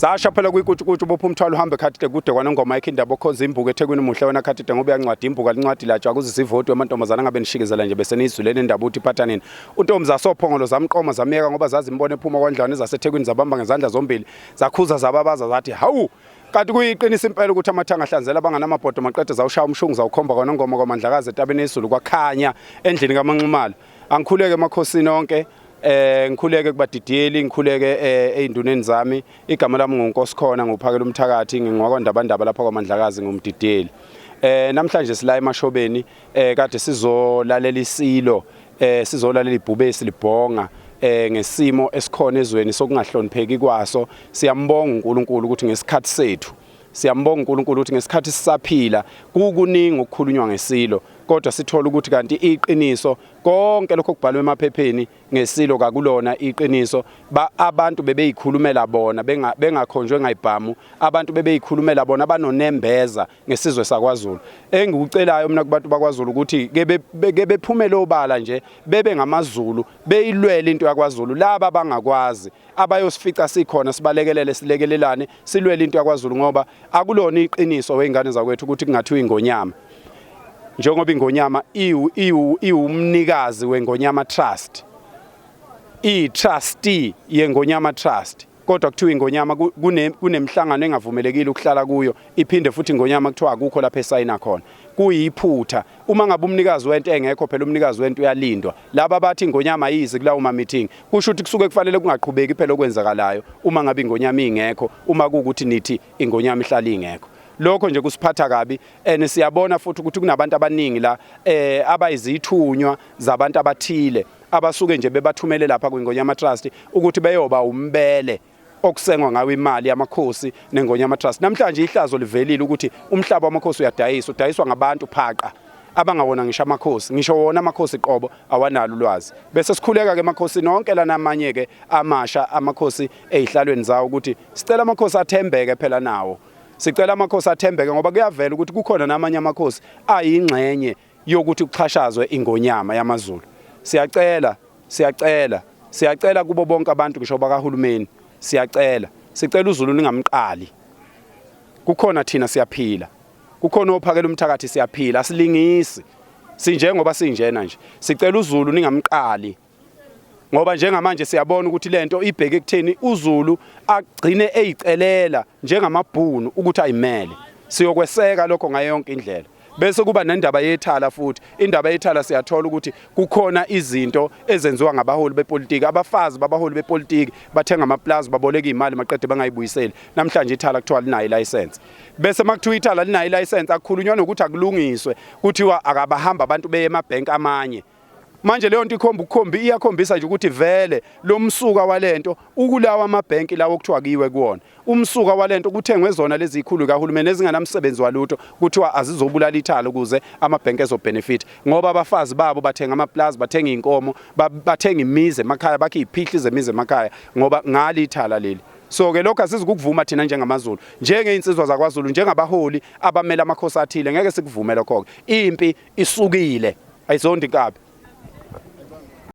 zasha phela kwikutshukutshu bopha umthwalo uhambe khathide kude kwanongoma ekhe indaba okhonza imbuka ethekwini muhle wena khathide ngoba uyancwadi imbuka lincwadi latshwa akuze sivotwe amantombazana ngabe nishikizela nje bese niyizulele indaba uthi iphatha nini untombi zasophongolo zamqoma zamyeka ngoba zazimbona ephuma kwandlwane zasethekwini zabamba ngezandla zombili zakhuza zababaza zathi hawu kanti kuyiqinisa impela ukuthi amathanga ahlanzela abanganamabhodo maqede zawushaya umshungu zawukhomba kwanongoma kwamandlakazi etabeni yezulu kwakhanya endlini kamanxumalo angikhuleke emakhosini onke eh ngikhuleke kubadidiyeli ngikhuleke eh, einduneni zami igama lami nguNkosikhona nguphakela umthakathi ngingokwandabandaba lapha kwaMandlakazi ngumdidiyeli eh namhlanje sila emashobeni eh kade sizolalela isilo eh sizolalela ibhubesi libhonga eh ngesimo esikhona ezweni sokungahlonipheki kwaso siyambonga uNkulunkulu ukuthi ngesikhathi sethu siyambonga uNkulunkulu ukuthi ngesikhathi sisaphila kukuningi ukukhulunywa ngesilo kodwa sithola ukuthi kanti iqiniso Konke lokho kubhalwe emaphepheni ngesilo kakulona iqiniso. Ba abantu bebeyikhulumela bona benga bengakhonjwe ngayibhamu. Abantu bebeyikhulumela bona abanonembeza ngesizwe sakwaZulu. Engikucelayo mina kubantu bakwaZulu ukuthi ke beke bephumele obala nje bebe ngamaZulu beyilwele into yakwaZulu laba bangakwazi abayosifica sikhona sibalekelele silekelelane silwele into yakwaZulu ngoba akulona iqiniso weingane zakwethu ukuthi kungathiwa ingonyama njengoba ingonyama iwumnikazi wengonyama trust i-trustee yengonyama trust kodwa kuthiwa ingonyama kunemihlangano engavumelekile ukuhlala kuyo iphinde futhi ingonyama kuthiwa akukho lapho esayina khona kuyiphutha uma ngabe umnikazi wento engekho phela umnikazi wento uyalindwa laba bathi ingonyama ayizi kulawo ma-meeting kusho ukuthi kusuke kufanele kungaqhubeki phela okwenzakalayo uma ngabe ingonyama ingekho uma kuwukuthi nithi ingonyama ihlala ingekho lokho nje kusiphatha kabi and siyabona futhi ukuthi kunabantu abaningi la eh abayizithunywa zabantu abathile abasuke nje bebathumele lapha kwingonyama trust ukuthi beyoba umbele okusengwa ngawo imali yamakhosi nengonyama trust namhlanje ihlazo livelile ukuthi umhlaba wamakhosi uyadayiswa udayiswa ngabantu phaqa abangawona ngisho amakhosi ngisho wona amakhosi qobo awanalo ulwazi bese sikhuleka ke amakhosi nonke lana amanye ke amasha amakhosi ezihlalweni zawo ukuthi sicela amakhosi athembeke phela nawo sicela amakhosi athembeke ngoba kuyavela ukuthi kukhona namanye amakhosi ayingxenye yokuthi kuxhashazwe ingonyama yamaZulu. Siyacela, siyacela, siyacela kubo bonke abantu ngisho bakahulumeni. Siyacela, sicela uZulu ningamqali. Kukhona thina siyaphila. Kukhona ophakela umthakathi siyaphila, asilingisi. Sinjengoba sinjena nje. Sicela uZulu ningamqali. ngoba njengamanje siyabona ukuthi lento ibheke ekutheni uZulu agcine eyicelela njengamabhunu ukuthi ayimele siyokweseka lokho ngayo yonke indlela bese kuba nendaba yethala futhi indaba yethala siyathola ukuthi kukhona izinto ezenziwa ngabaholi bepolitiki abafazi babaholi bepolitiki bathenga amaplazi baboleka imali maqede bangayibuyiseli namhlanje ithala kuthiwa linayo license bese makuthiwa ithala linayo license akukhulunywa nokuthi akulungiswe kuthiwa akabahamba abantu beye emabhenki amanye manje leyo nto ikhomba ukukhombi iyakhombisa nje ukuthi vele lo msuka walento ukulawa amabhenki lawo okuthiwa kiwe kuwona umsuka walento kuthengwe zona lezi zikhulu kahulumeni ezinganamsebenzi walutho kuthiwa azizobulala ithalo ukuze amabhenki ezobenefit ngoba abafazi babo bathenga amaplaza bathenga inkomo bathenga imizi emakhaya bakhe iphihli zemizi emakhaya ngoba ngalithala leli so ke lokho asizukuvuma thina njengamaZulu njengeinsizwa zakwaZulu njengabaholi abamela amakhosi athile ngeke sikuvume lokho ke impi isukile ayizondi kabi